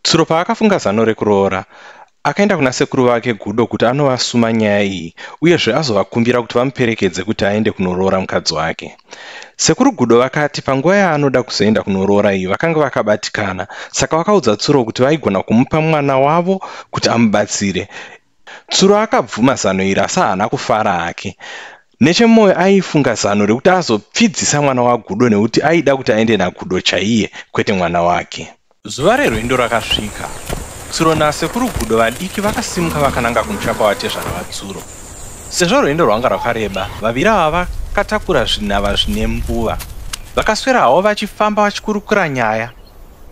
tsuro paakafunga zano rekuroora akaenda kuna sekuru vake gudo kuti anovasuma nyaya iyi uyezve azovakumbira kuti vamuperekedze kuti aende kunoroora mukadzi wake sekuru gudo vakati panguva yaanoda kuzoenda kunoroora iyi vakanga vakabatikana saka vakaudza tsuro kuti vaigona kumupa mwana wavo kuti amubatsire Tsuro akabvuma zano iri asi haana kufara hake. Nechemwoyo aifunga zano rekuti azopfidzisa mwana waGudo nekuti aida kuti aende naGudo chaiye kwete mwana wake. Zuva rerwendo rakasvika. Tsuro nasekuru Gudo vadiki vakasimuka vakananga kumusha kwavatezvara vaTsuro. Sezvo rwendo rwanga rwakareba, vaviri ava vakatakura zvinhava zvine mbuva. Vakaswera havo vachifamba vachikurukura nyaya.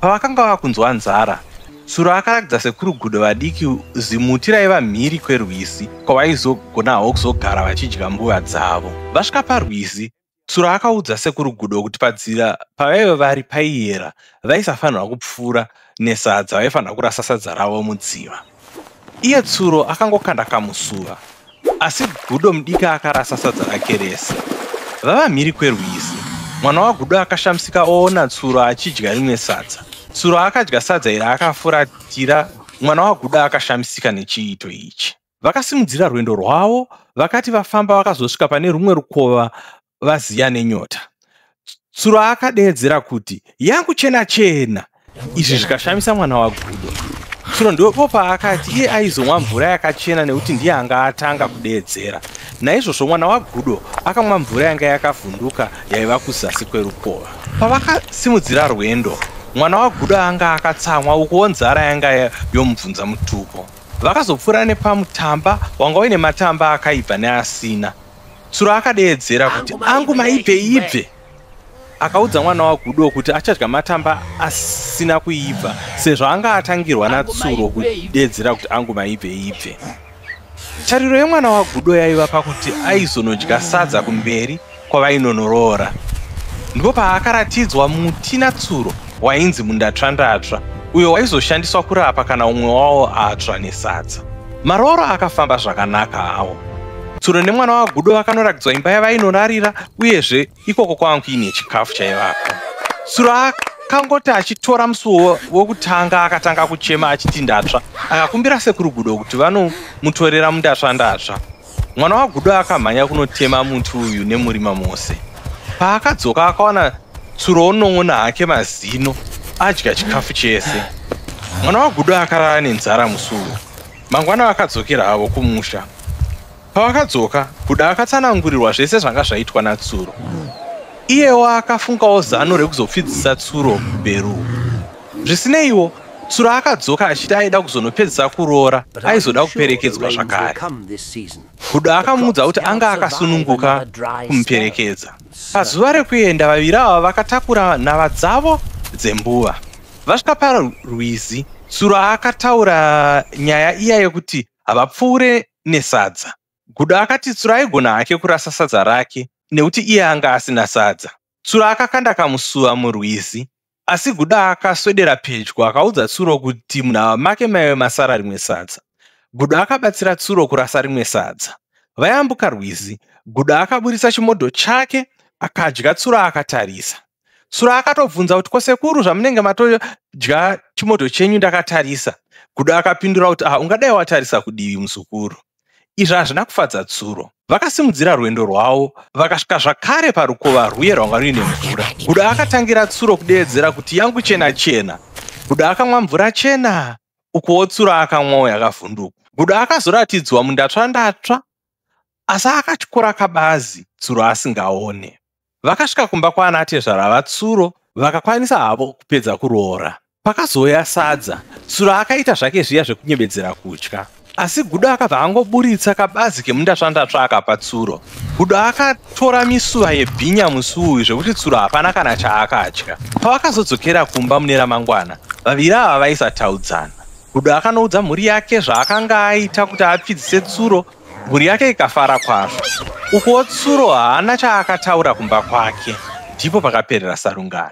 Pavakanga vakunzwa nzara, Tsuro akarakidza sekuru Gudo vadiki zimuti raiva mhiri kwerwizi kwavaizogonawo kuzogara vachidya mbuva dzavo. Vasvika parwizi, Tsuro akaudza sekuru Gudo kuti padzira pavaive vari paiyera vaisafanirwa kupfuura nesadza vaifanirwa kurasa sadza ravo mudziva. Iye Tsuro akangokanda kamusuva, asi Gudo mudika akarasa sadza rake rese. Vava mhiri kwerwizi, mwana waGudo akashamisika oona Tsuro achidya rimwe sadza. Tsuro akadya sadza iri akafuratira, mwana waGudo akashamisika nechiito ichi. Vakasimudzira rwendo rwavo, vakati vafamba vakazosvika pane rumwe rukova vaziya nenyota tsuro akadeedzera kuti yangu chena chena izvi zvikashamisa mwana wagudo tsuro ndipo paakati iye aizomwa mvura yakachena nekuti ndiye anga atanga kudeedzera naizvozvo mwana wagudo akamwa mvura yanga yakavhunduka yaiva kuzasi kwerukova pavakasimudzira rwendo mwana wagudo anga akatsamwa ukuwo nzara yanga yomubvunza mutupo vakazopfuura nepamutamba wanga uine matamba akaipa neasina tsuro akadeedzera kuti angu maibve ibve akaudza mwana wagudo kuti achadya matamba asina kuibva sezvo anga atangirwa natsuro kudeedzera kuti angu maibve ibve tariro yemwana wagudo yaiva pakuti aizonodya sadza kumberi kwavainonoroora ndipo paakaratidzwa muti natsuro wainzi mundatsvandatsva uyo waizoshandiswa kurapa kana umwe wawo atsva nesadza Marooro akafamba zvakanaka hawo. Tsuro nemwana waGudo vakandorakidzwa imba yavainorarira uyezve ikoko kwanga kuine chikafu chaivako. Tsuro akangoti achitora musuwo wokutanga akatanga kuchema achiti ndatsva. Akakumbira sekuru Gudo kuti vanomutorera mundatsva ndatsva. Mwana waGudo akamhanya kunotema muti uyu nemurima mose. Paakadzoka akawana tsuro onon'ona hake mazino adya chikafu chese. Mwana waGudo akarara nenzara musi uyu. Mangwana vakadzokera havo kumusha. Pavakadzoka, Gudo akatsanangurirwa zvese zvanga zvaitwa naTsuro. Iyewo akafungawo zano rekuzopfidzisa Tsuro beruku. Zvisineiwo, Tsuro akadzoka achiti aida kuzonopedzisa kuroora, aizoda kuperekedzwa zvakare. Hudo akamuudza kuti anga akasununguka kumuperekedza. Pazuva rekuenda, vaviri ava vakatakura nhava dzavo dzembuva. Vasvika parwizi, Tsuro akataura nyaya iya yekuti havapfuure nesadza. Gudo akati Tsuro aigona hake kurasa sadza rake nekuti iye anga asina sadza. Tsuro akakanda kamusuva murwizi Asi Guda akaswedera pedyo akaudza Tsuro kuti munhava make maive masara rimwe sadza. Guda akabatsira Tsuro kurasa rimwe sadza. Vayambuka rwizi, Guda akaburitsa chimodho chake akadya Tsuro akatarisa. Tsuro akatobvunza kuti ko sekuru zvamunenge matodya chimodho chenyu ndakatarisa. Guda akapindura kuti ah ungadai watarisa kudivi muzukuru. Izvi hazvina kufadza tsuro. Vakasimudzira rwendo rwavo vakasvika zvakare parukova rwuye rwanga ruine mvura. Guda akatangira tsuro kudeedzera kuti yangu chena chena. Guda akamwa mvura chena ukuwo tsuro akamwawo yakavhunduka. Guda akazoratidzwa mundatsva ndatsva asi akatyora kabazi tsuro asingaone. Vakasvika kumba kwaana tezvara vatsuro vakakwanisa havo kupedza kuroora. Pakazouya sadza, tsuro akaita zvake zviya zvekunyebedzera kutya. Asi Gudo akabva angoburitsa kabazi kemundatsvandatsva akapa tsuro. Gudo akatora misuva yebhinya musi uyu zvekuti tsuro hapana kana chaakatya. Pavakazodzokera kumba mune ramangwana, vaviri ava vaisataudzana. Gudo akanoudza mhuri yake zvaakanga aita kuti apfidzise tsuro Mhuri yake ikafara kwazvo. Ukuwo Tsuro haana chaakataura kumba kwake. Ndipo pakaperera sarungano.